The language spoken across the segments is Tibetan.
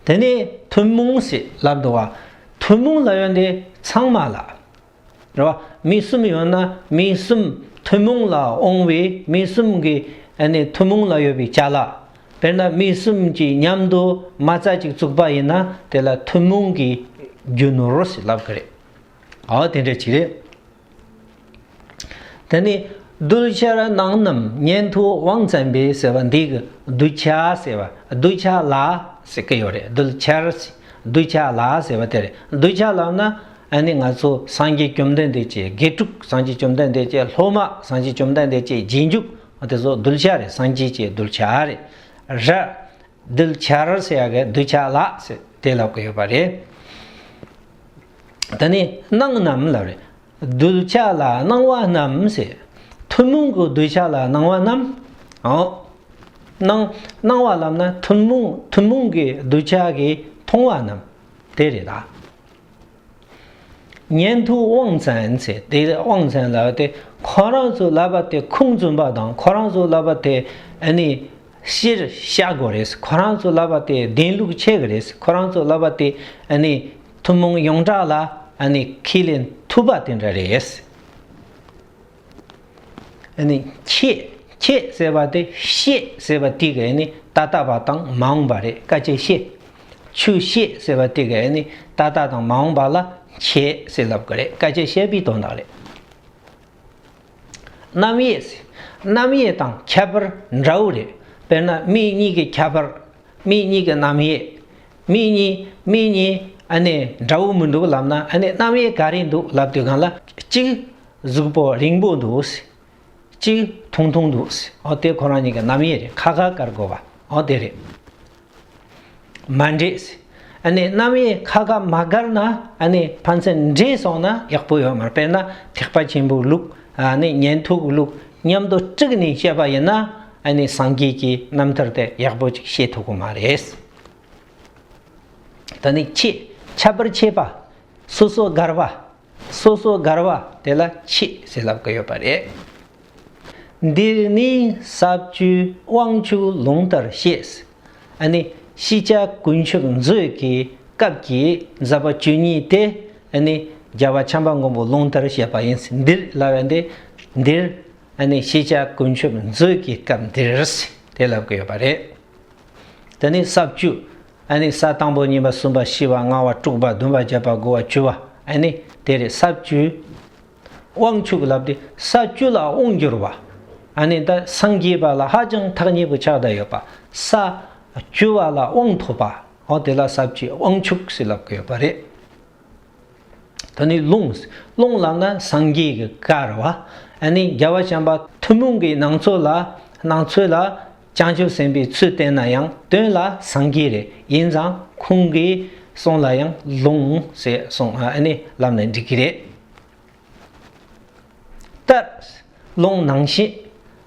དེ་ནས་ཐུན་མོང་སྲིད་ལ་འགྲོ་བ། ཐུན་མོང་ལ་ཡོན་ཏན་ཚང་མ་ལ། རེ་བ། མི་གསུམ་ཡོད་ན་མི་གསུམ་ཐུན་མོང་ལ་འོང་བས་མི་གསུམ་གྱི་ཐུན་མོང་ལ་ཡོད་པའི་བྱ་ལ། དཔེར་ན་མི་གསུམ་གྱིས་མཉམ་དུ་མ་རྩ་གཅིག་བཙུགས་པ་ཡིན་ན་དེ་ལ་ཐུན་མོང་གི་རྒྱུ་ནོར་སྲིད་ལབ་ཀྱི་རེད། འོ་དེ་འདྲ་ཅིག་རེད། དེ་ནས་གདུལ་བྱ་རྣམས་རྣམས་གཉེན་དུ་དབང་བཙན་པས་ཟེར་བ་འདི་གི་གདུལ་བྱ་ཟེར་བ་གདུལ་བྱ་ལ་ཟེར་གི་ཡོད་རེད་གདུལ་བྱར་གདུལ་བྱ་ལ་ཟེར་བ་དེ་རེད་གདུལ་བྱ་ལབ་ན་ཨ་ནི་ང་ཚོ་སངས་རྒྱས་བཅོམ་ལྡན་འདས་ཀྱི་དགེ་ཕྲུག་སངས་རྒྱས་བཅོམ་ལྡན་འདས་ཀྱི་སློབ་མ་སངས་རྒྱས་བཅོམ་ལྡན་འདས་ཀྱི་རྗེས་འཇུག་དེ་ཚོ་གདུལ་བྱ་རེད་སངས་རྒྱས་ཀྱི་གདུལ་བྱ་རེད། གདུལ་བྱར་ཟེར་བ་གདུལ་བྱ་ལ་ཟེར་དེ་ལབ་གི་ཡོད་པ་རེད། དེ་ནས་སྣང་རྣམས་ལ་རེ། གདུལ་བྱ་ལ་སྣང་བ་རྣམས་ཟེར། ཐུན་མོང་གི་གདུལ་བྱ་ལ་སྣང་བ་རྣམས། འོ་ན་སྣང་བ་ལམ་ན་ཐུན་མོང་ཐུན་མོང་གི་གདུལ་བྱ་གིས་མཐོང་བ་རྣམས་དེ་རེད་ད། ཉན་ཐོས་དབང་བཙན་ཟེར་དེ་དབང་བཙན་ལ་དེ་ཁོ་རང་ཚོས་ལབ་པ་དེ་ཁུངས་བཙུན་པ་དང་ཁོ་རང་ཚོས་ལབ་པ་དེ་ནི་ཤེས་རབ་ཤ་སྒོ་རེད་ཁོ་རང་ཚོས་ལབ་པ་དེ་བདེན་ལུགས་ཆེ་གི་རེད་ཁོ་རང་ཚོས་ལབ་པ་དེ་ནི། ཐུན་མོང་ཡོངས་གྲགས་ལ་ཨ་ནི་ཁས་ལེན་ཐུབ་པ་དེ་འདྲ་རེད། ཨ་ནི་ཁྱེད་ཁྱེད་ཟེར་བ་དེ་ཤེས་ཟེར་བ་ཏིག་ཨ་ནི་ད་ལྟ་བ་དང་མ་འོངས་པ་རེད་དཀའ་སྤྱད་ཤེས། ཆུ་ཤེས་ཟེར་བ་ཏིག་ཨ་ནི་ད་ལྟ་དང་མ་འོངས་པ་ལ་ཁྱེད་ཟེར་ལབ་གི་རེད་དཀའ་སྤྱད་ཤེས་པའི་དོན་དག་རེད། རྣམ་དབྱེ་རྣམ་དབྱེ་དང་ཁྱད་པར་འདྲ་བོ་རེད་དཔེར་ན་མི་གཉིས་ཀྱི་ཁྱད་པར་མི་གཉིས་ཀྱི་རྣམ་དབྱེ་མིག་གཉིས་མིག་གཉིས་ཨ་ནེ་འདྲ་བོ་མི་འདུག་ལབ་ན་ཨ་ནེ་རྣམ་དབྱེ་ག་རེ་འདུག་ལབ་དུས་གང་ལ་གཅིག་གཟུགས་པོ་རིང་པོ་འདུག་གཅིག་ཐུང་ཐུང་འདུག་ཨོ་དེ་ཁོ་རང་གཉིས་ཀྱི་རྣམ་དབྱེ་རེད་ཁ་ཁ་དཀར་དགོས་པ་ཨོ་དེ་རེད། མ་འདྲེས་ཨ་ནེ་རྣམ་དབྱེ་ཁ་ཁ་མ་དཀར་ན་ཨ་ནེ་ཕན་ཚུན་འདྲེས་སོང་ན་ཡག་པོ་ཡོད་མ་རེད་དཔེར་ན་ཐེག་པ་ཆེན་པོའི་ལུགས་ཨ་ནེ་ཉན་ཐོས་ཀྱི་ལུགས་མཉམ་དུ་དཀྲུགས་ནས་བཤད་པ་ཡིན་ན་ཨ་ནེ་སངས་རྒྱས་ཀྱི་རྣམ་ཐར་དེ་ཡག་པོ་ཅིག་ཤེས་ཐུབ་ཀྱི་མ་རེད། ད་ནི་འཆི། འཆབ་པར་འཆད་པ། སོ་སོ་དགར་བ། སོ་སོ་དགར་བ་དེ་ལ་འཆི་ཟེར་ལབ་ཀི་ཡོད་པ་རེད། འདིར་ནི་ཟབ་བཅུའི་དབང་ཕྱུག་ལུང་ལྟར་བཤད། ཨ་ནི་ཤེས་བྱ་ཀུན་མཆོག་མཛོད་ཀྱི་སྐབས་ཀྱི་ཛཔ྄་བཅུ་གཉིས་ཏེ་ཨ་ནི་རྒྱལ་བ་བྱམས་པ་མགོན་པོ་ལུང་ལྟར་བཤད་པ་ཡིན། འདིར་ལ་བས་འདི་འདིར་ཨ་ནི་ཤེས་བྱ་ཀུན་མཆོག་མཛོད་ཀྱི་སྐབས་འདིར་དེ་ལབ་ཀི་ཡོད་པ་རེད། དེ་ནས་ས་བཅུ། ཨ་ནི་ས་དང་པོ་གཉིས་པ་གསུམ་པ་བཞི་བ་ལྔ་བ་དྲུག་པ་བདུན་པ་བརྒྱད་པ་དགུ་བ་བཅུ་བ་ཨ་ནི་དེ་རེད་ས་བཅུ། དབང་ཕྱུག་ལབ་སྟེ་ས་བཅུ་ལ་དབང་བསྒྱུར་བ་ཨ་ནི་ད་སངས་རྒྱས་པ་ལ་ཧ་ཅང་ཐག་ཉེ་པོ་ཆགས་ད་ཡོད་པ་ས་བཅུ་བ་ལ་དབང་ཐོབ་པའོ་དེ་ལ་ས་བཅུའི་དབང་ཕྱུག་ཞེས་ལབ་ཀི་ཡོད་པ་རེད། ད་ནི་ལུང་སློང་ལགས་ན་སངས་རྒྱས་ཀྱི་བཀའ་ར་བ་ཨ་ནི་རྒྱལ་བ་བྱམས་པ་ཐུན་མོང་གི་ནང་ཚོ་ལ་སྣང་ཚོད་ལ་བྱང་ཆུབ་སེམས་པའི་ཚུལ་བསྟན་ན་ཡང་དོན་ལ་སངས་རྒྱས་རེ་ཡིན་ཙང་ཁོང་གིས་གསུངས་ལ་ཡང་ལུང་ཞེས་གསུངས་ཨ་ནི་ལབ་ནས་འགྲིག་གི་རེད། ལྟར། ཀློང་ནང་བཞིན།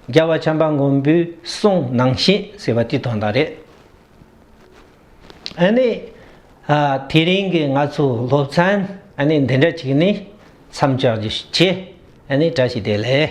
རྒྱལ་བ་བྱམས་པ་མགོན་པོའི་གསུང་ནང་བཞིན་ཟེར་བ་དེ་དོན་དག་རེད། ཨ་ནི། དེ་རིང་གི་ང་ཚོའི་སློབ་ཚན་ཨ་ནི་འདི་འདྲ་ཅིག་ནི་མཚམས་འཇོག་རྒྱུ་ཞིག་བྱེད་ཨ་ནི་བཀྲ་ཤིས་བདེ་ལེགས།